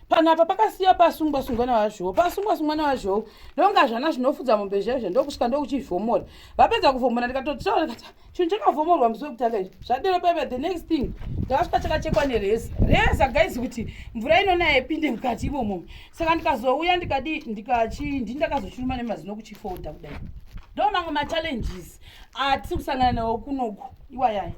panapa pakasiya pasungwa sungwa navazvoo pasungwa sungwa navazvoo ndonga zvana zvinofudza mombe zvezvo ndokusvika ndokuchivhomora vapedza kuvhomora ndikatotaura kati chinhu chakavhomorwa musi wekutanga izvi zvadero paive the next thing ndakasvika chakachekwa nereza reza gaizi kuti mvura inonaya ipinde mukati imomo saka ndikazouya ndikadii ndikachii ndii ndakazochiruma nemazino kuchifolda kudai ndo mamwe machallenges atisiri kusangana nawo kunoku iwayaya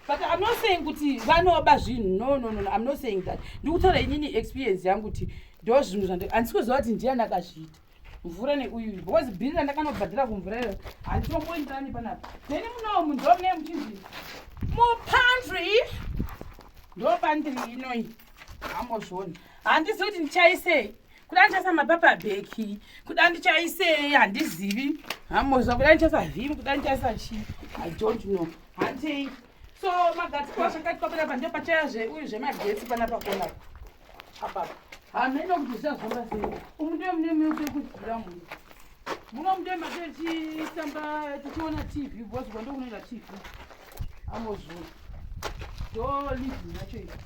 but i'm not saying kuti vanoba zvinhu no no no i'm not saying that ndikutaura inini experience yangu kuti ndo zvinhu zvandi handisi kuziva kuti ndiyani akazviita mvura neuyu because bhiri randakanobhadhira kumvura iyo handitomboenderani panapa neni munawo munhu ndomune muchinzi mupandri ndopandri inoi ambozvona handizivi kuti ndichaisei kuda ndichasa mapapa beki kuda ndichaisei handizivi hamozva kuda ndichasa vhimi kuda ndichaisa chi i don't know hantei so magetsi kwa zvakati kwapera pande pachaya zve uyu zvemagetsi pana pakona apapa hameno kuti zvichazvamba sei umu ndiyo mune mune kukudzira munhu Muno mudemba techitamba tichiona TV because kwando kunoenda TV. Amozvuru. Do living nacho ichi.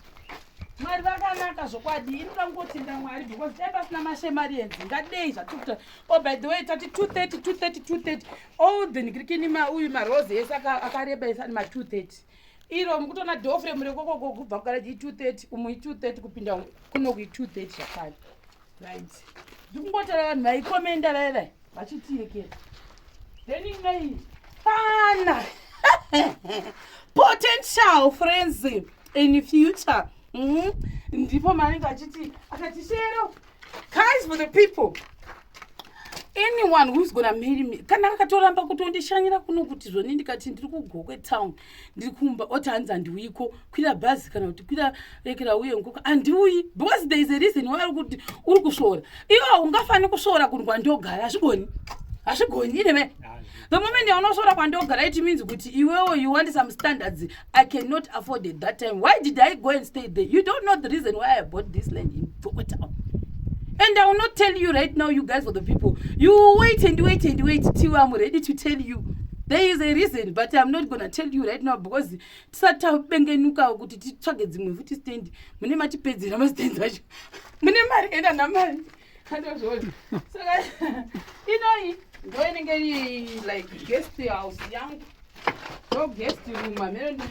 Mwari vakanaka zvokwadi inoda kungotenda Mwari because dai pasina mashemarians ngadei zvatikuta oh by the way tati 230 230 230 all the ngrikini ma uyu marose ese akareba ese ani ma 230 iro mukutoona dofre murekokoko kubva kugaraji i 230 umu i 230 kupinda kuno kui 230 zvakare right ndikungotara vanhu vaikomenda vaye vaye vachitiyekera then inai pana potential friends in future mm-hmm. ndipo maanenge achiti akati shero guys for the people anyone whois gona marry me kana akatoramba kutondishanyira kuno kuti zvoni ndikati ndiri kugokwe town ndiri kumba oti hanzi handiuyiko kwira bhazi kana kuti kwira rekera uye nkoka handiuyi because there is a reason why ari kuti uri kusvora iwo ungafani kusvora kunhu kwandogara hazvigoni hazvigoni ineve the moment yaunosvora kwandogara it means kuti iwewo you want some standards i cannot afford it that time why did i go and stay there you don't know the reason why i bought this land in Tokotawo. And I will not tell you right now, you guys for the people. You wait and wait and wait till I'm ready to tell you. There is a reason, but I'm not gonna tell you right now because tisati tabengenuka kuti titsvage dzimwe futi stand mune matipedzera mastand acho mune mari enda namari andozvona saka inoyi ndo inenge iri like guest house yangu ndo guest room amene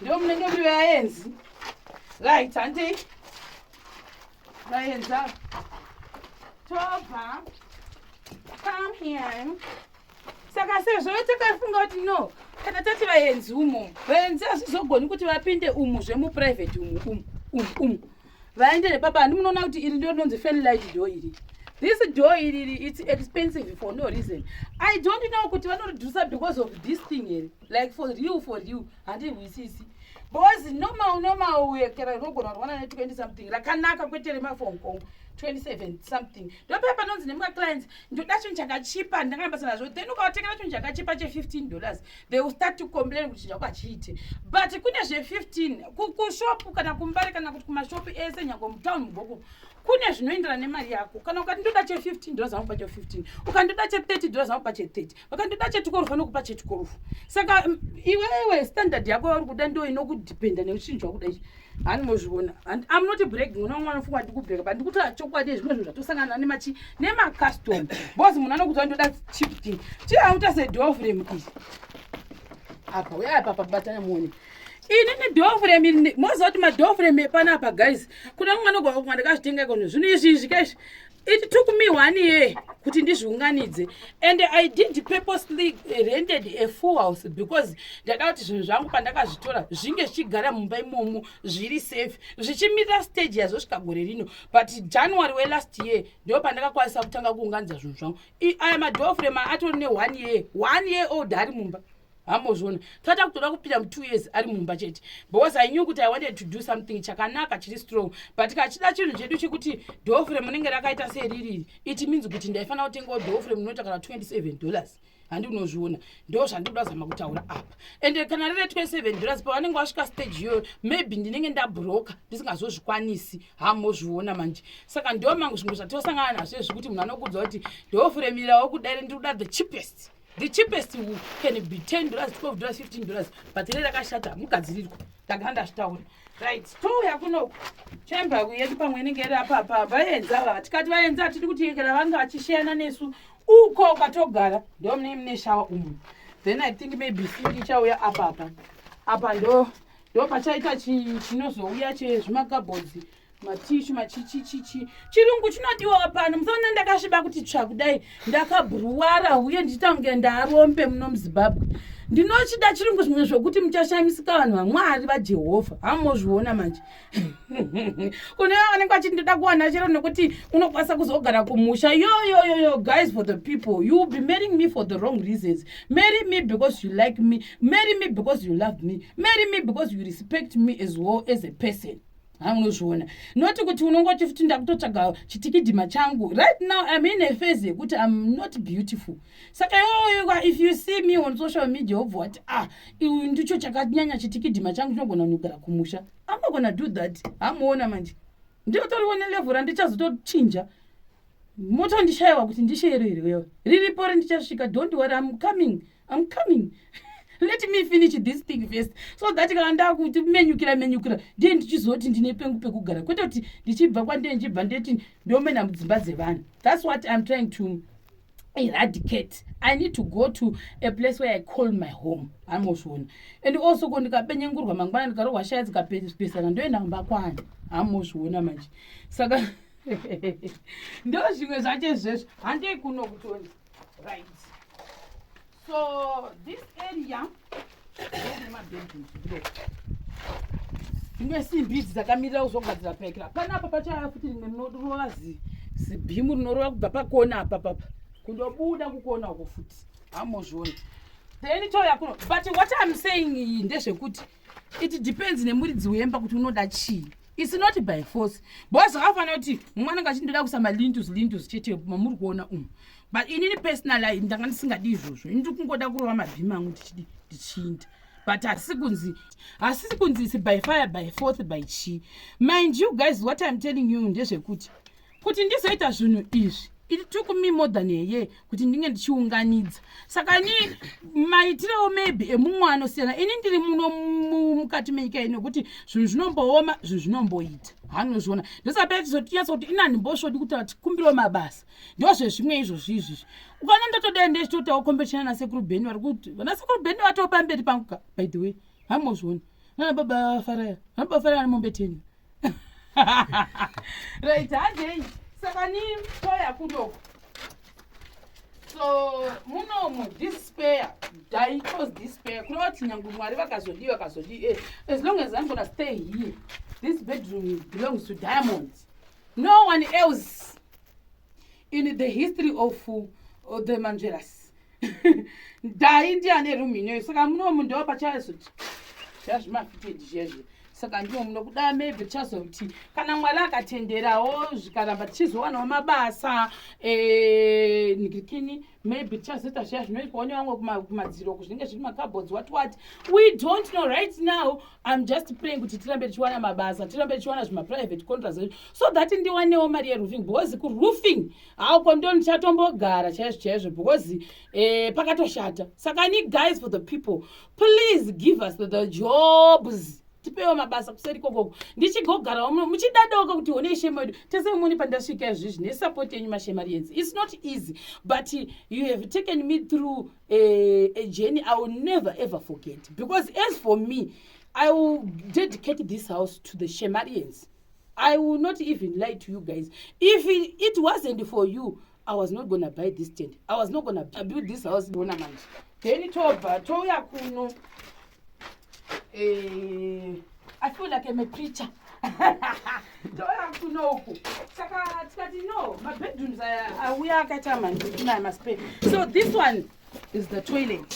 ndo munenge muri vaenzi right handei vaenza tobva come here saka sezvo takafunga kuti no kana tati vaenzi umo vaenzi hazvizogoni kuti vapinde umu zvemuprivate umu umu umu umu vaende nepapa handi munoona kuti iri ndo rinonzi fanlight do iri this door iriri its expensive for no reason i don't know kuti vanoridhusa because of this thing here like for real for real handihwisisi because normal normal uye kera rinogona kurwana ne 20 something rakanaka kwete remaphone call 27 something ndopeya panonzi nemumwe clients ndoda chinhu chakachipa ndanga nabasa nazvo then ukavatengera chinhu chakachipa che 15 dollars they will start to complain kuti chako hachiite but kune zve 15 kushopu kana kumbare kana kuti kumashopu ese nyango mutown mugoku kune zvinoenderana nemari yako kana ukati ndoda che 15 dollars anopa che 15 ukandoda che 30 dollars anopa che 30 vakandida chetikorufu anokupa chetikorufu saka mm, iwewe standard yako yauri kuda ndo inokudependa neuchinjwa kuda ichi hani mozviona and am not breaking mwana wangu anofunga kuti ndikubreka but ndikutaura chokwadi yezvimwe zvinhu zvatosangana nemachi nemacustom bcause munhu anokuti ndoda chip thing chiauta sedofrem ii apa uya apa pabatana muone ini nedofrem moziva kuti madofrem epanapa guys kuda mwana gwakumwa ndakazvitenga ikono zvinhu izvi izvi kaizvi it took me one year kuti ndizviunganidze and i did purposely rented a full house because ndada kuti zvinhu zvangu pandakazvitora zvinge zvichigara mumba imomo zviri safe zvichimirira stage yazvosvika gore rino but january welast year ndo pandakakwanisa kutanga kuunganidza zvinhu zvangu i am adofre ma atori ne one year one year old ari mumba hambozviona tata kutoda kupinda mu2 years ari mumba chete because i knew kuti i wanted to do something chakanaka chiri strong but kachida chinhu chedu chekuti dofre munenge rakaita seririri it means kuti ndaifanira kutengawo dofre munoita kana 27 dollars handi unozviona ndo zvandikuda zama kutaura apa ende kana riri 27 dollars pavanenge vasvika stage iyoyo maybe ndinenge ndabroka ndisingazozvikwanisi hamozviona manje saka ndo mangu zvimwe zvatosangana nazvo ezvekuti munhu anokudza kuti ndofure mirirawo kudare ndiri kuda the cheapest the cheapest wool can be 10 dollars 12 dollars 15 dollars but re rakashata mugadzirirwa ndagara ndazvitaura right touya kunoku chamber yedu pamwe inenge iri apapa vaenzi ava vatikati vaenzi atidi kuti yekera vanga vachisheyana nesu uko kwatogara ndo mune mune shawa umu then i think maybe sink ichauya apapa apa ndo ndo pachaita chinozouya chezvimakabhodzi chi matishu machichichichi chirungu chinodiwa pano musaona ndakasviba kuti tsva kudai ndakabhuruwara uye ndichitange ndarombe muno muzimbabwe ndinochida chirungu zvimwe zvokuti muchashamisika vanhu vamwari vajehovha hamozviona manje kune va vanenge vachiti ndoda kuwana chero nekuti unokwanisa kuzogara kumusha yoyoyoyo guys for the people you be marrying me for the wrong reasons marry me because you like me marry me because you love me marry me because you respect me as well as a person ha unozviona not kuti unongoti futi ndakutotsvaga chitikidhima changu right now im in a face yekuti im not beautiful saka yoyoa if you see me on social media wobva wati ah iu ndicho chakanyanya chitikidhima changu chinogona kunogara kumusha amagona do that hamuona manje ndiotoriwo nelevhu randichazotochinja motondishayiwa kuti ndisheiro here wewe riripo rendichasvika don't worry im coming I'm coming. Let me finish this thing first. So that kana ndakuti menyukira menyukira ndiye ndichizoti ndine pengu pekugara kwete kuti ndichibva kwandee ndichibva ndeti ndomena mudzimba dzevanhu. That's what I'm trying to eradicate i need to go to a place where i call my home hamozviona and also ko ndikapenyengurwa mangwana ndikarohwa shaya dzikapesana ndoenda kumba kwani hamozviona manje saka ndo zvimwe zvacho izvezvo handei kuno kutoni right so this area nemabedrooms below dzimwe simbi idzi dzakamirira kuzogadzira pekera panapa pachaya futi rimwe rinorova zibhimu rinorova kubva pakona apa papa kundobuda kukona uko futi hamozviona then toya kuno but what im saying iyi ndezvekuti it depends nemuridzi wemba kuti unoda chii its not by force bcause zvakafanira kuti mumwe anenge achindoda kuisa malintus lintus chete mamuri kuona umu but inini personal i ndanga ndisingadi izvozvo ini ndiri kungoda kurova mabhima angu ndichidi ndichinda but hasi kunzi hasisi kunzi isi by fire by forth by chii mind you guys what im telling you ndezvekuti kuti ndizoita zvinhu izvi it took me more than a year kuti ndinge ndichiunganidza saka ni maitirewo maybe emumwe anosiyana ini ndiri muno mukati menyika ino yekuti zvinhu zvinombooma zvinhu zvinomboita hanozviona ndosapera tizotinyatsa kuti inani mbosvodi kuti tikumbirwo mabasa ndozvezvimwe izvozvi izvizvi ukaona ndatodai ndechitotawo kombetishana nasekuru beni vari kuti vanasekuru beni vatoo pamberi pangu ka by the way hamozvioni nanababa faraya nanababa faraya vane mombe teni right handei saka ni toya kudoko so munomu despair dai cause despair kureva kuti nyange mwari vakazodii vakazodii eh, as long as i'm gonna stay here this bedroom belongs to diamond no one else in the history of uh, the mangeras dai ndi ane room inoyo saka muno munhu ndewa pachazoti zvazvimafitedi zvezve saka ndimo muno kuda maybe tichazoti kana mwari akatenderawo zvikaramba tichizowanawo mabasa eh, ndirikini maybe tichazoita zviya zvinoitwa one vamwe kumadziro kuzvinenge zviri macabods what what we don't know right now im just praying kuti tirambe tichiwana mabasa tirambe tichiwana zvimaprivate contracts so that ndiwanewo mari yeroofing because kuroofing how ko ndo ndichatombogara chaizvo chaizvo because eh, pakatoshata saka ni guys for the people please give us the, the jobs tipewo mabasa kuseri kokoko ndichigogarawo muchidadawoko kuti one ishema yedu tese mumoni pandasvika izvizvi nesupport yenyu mashemarienzi its not easy but you have taken me through a, eh, a journey i will never ever forget because as for me i will dedicate this house to the shemarienzi i will not even lie to you guys if it wasn't for you i was not gonna buy this tent i was not gonna build this house bona manje then tobva touya kuno eh, i feel like im a preacher touya kuno uku saka tikati no mabedrooms aya auya akaita mandikunaya maspe so this one is the toilet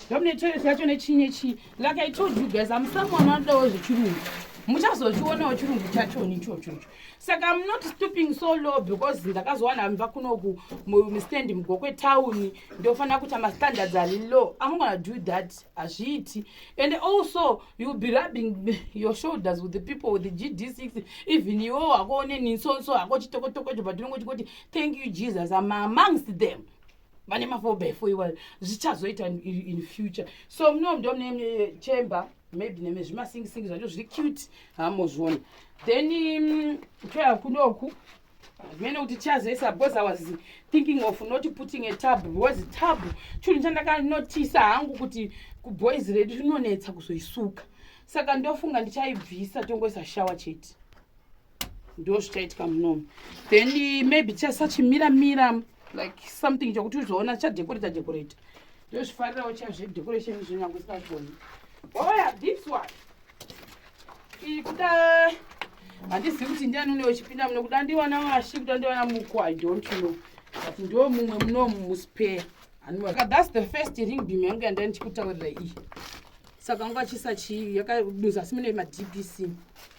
ndamune toilet yacho nechii nechii like i told you guys am someone anodawo zvechirungu muchazozvionawo chirungu chachoni ichochocho saka am not stooping so low because ndakazowana amva kunoku mustand mugokwe town ndofanira kuita mastandards ari low am gona do that hazviiti and also you be rubbing your shoulders with the people with the gd six even iwo wakoone ninsonso hako chitokotokocho patinongo chikoti thank you jesus am amongst them vane mafobefo iwayo zvichazoita in future so muno ndo mune chamber maybe neme zvimasingisingi zvacho zviri cute hamozviona then mm, toya kunoku zvimene kuti chazoisa because i was thinking of not putting a tab because tab chunhu chandakanotisa hangu kuti kuboys redu rinonetsa kuzoisuka saka ndofunga ndichaibvisa tongoisa shawa chete ndo zvichaitika munomu then eh, maybe tichasachimira mira like something chokuti uzoona chadekoreta dekoreta ndozvifarirawo cha zvedecoration izvo nyange isingagoni oya this one iyi kuda handizivi kuti ndiani une wechipinda muno kuda ndiwana washi kuda ndiwana muko i don't know but ndo mumwe munomu muspare anika thats the first ring bim yangu yandai ndichikutaurira iyi saka nguva chisachiivi yakaduza asi mune madbc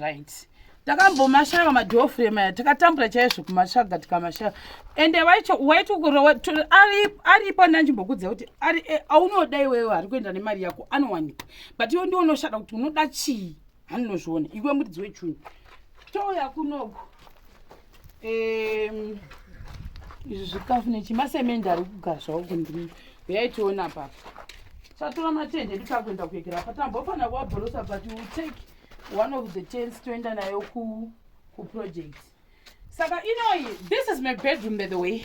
right takambomashava madhofrem aya takatambura chaizvo kumatsvaga tikamashava ende vaicho waiti ukurowa aripo ndanjimbokudza kuti e, aunoda iwewe ari kuenda nemari yako anowanikwa but iwe ndiwo unoshada kuti unoda chii handinozviona iwe muridzi wechunhu touya kunoko um, izvi zvikafu nechimasemende ari kugara zvavo kundimi huyai tiona papa chatora matende ndikakuenda kuegera patambofanira kuabhorosa but u take one of the tens toenda nayo ku kuproject saka inoyi this is my bedroom by the way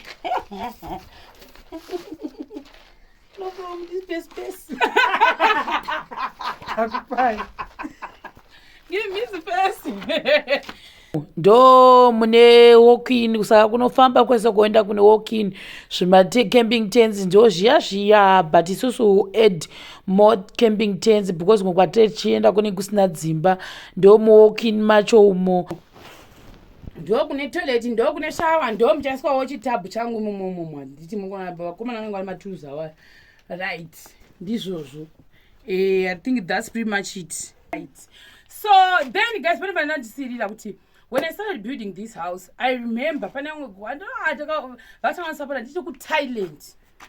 ndo mune walkin kusaka kunofamba kwese kuenda kune walkin zvimacamping tens ndo zviya zviya but isusu add more camping tens because ngokwatiri tichienda kune kusina dzimba ndo muwalkin macho umo ndo kune toilet ndo kune shawa ndo muchaiswawo chitabhu changu imomomo handiti muvakomana vanenge vari matools awa right ndizvozvo eh, i think thats pretty much it right so then guys pane vanandisirira kuti when i started building this house i remember pane vamwe vatanga vasapota ndichiri kuthailand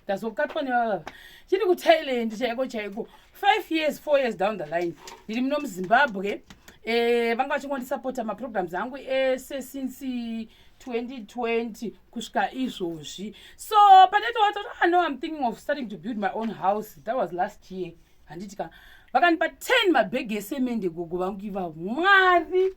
ndazokatwa nevavava chiri kuthailand chaiko chaiko five years four years down the line ndiri muno muzimbabwe eh, vanga vachingondisapota maprograms angu ese since 2020 kusvika izvozvi so pandatoata kuti ah, no im thinking of starting to build my own house that was last year mm. handiti ka vakandipa 10 mabhegi esemende gogo vangu ivavo mwari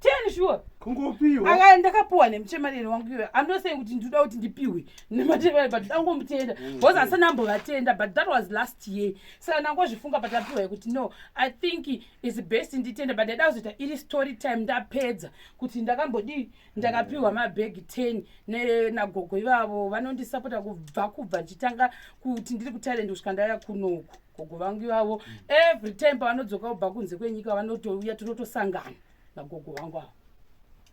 ten sure kungopiwa aka ndakapiwa nemuchemareri wangu iwe andosei kuti ndinoda kuti ndipiwe nemachemareri but ndangomutenda mm. because asi ndambovatenda but that was last year saka ndangozvifunga but apiwa yekuti no i think is best nditenda but ndaida kuzoita iri story time ndapedza kuti ndakambodii ndakapiwa mabhegi 10 nagogo ivavo vanondisapota kubva kubva ndichitanga kuti ndiri kutalent kusvika ndaya kunoku gogo vangu ivavo every time pavanodzoka kubva kunze kwenyika vanotouya tinotosangana nagogo vangu avo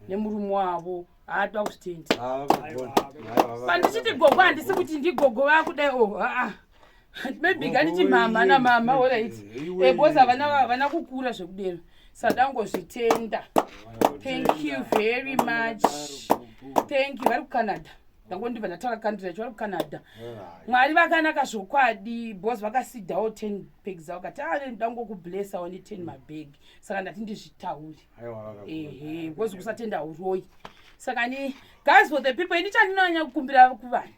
nemurume wavo haatwa kuzvitendi pandichiti gogo handisi kuti ndigogo vakudai o oh, aa maybe kaniti mama namama orit because havana kukura zvekudero sadangozvitenda thank you very much thank you vari kucanada ndango ndibva ndataura kandira icho vari kucanada mwari vakanaka zvokwadi bos vakasidawo ten bag zavo kati ave ah, ndango kublessawo neten mabag saka ndati ndizvitauri ehe bos kusatenda uroyi saka ni guys for the people ini chandinonyanya kukumbira kuvanhu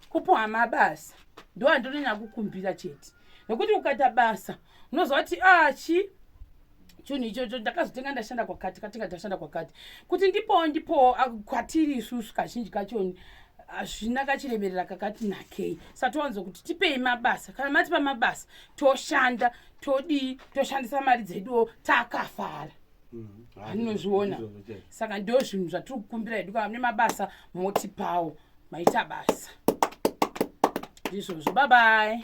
kupuhwa mabasa ndo andinonyanya kukumbira chete nokuti ukaita basa unoziva kuti achi ah, chinhu ichocho ndakazotenga ndashanda kwakati katenga ndashanda kwakati kuti ndipowo ndipowo ah, kwatiri isusu kazhinji kachoni hazvina kachiremerera kakati nakei satowanzo kuti tipei mabasa kana matipa mabasa toshanda todii toshandisa mari dzeduwo takafara mm, anozviona saka ndo zvinhu zvatiri kukumbira hedu kana mune mabasa motipawo maita basa ndizvozvo babai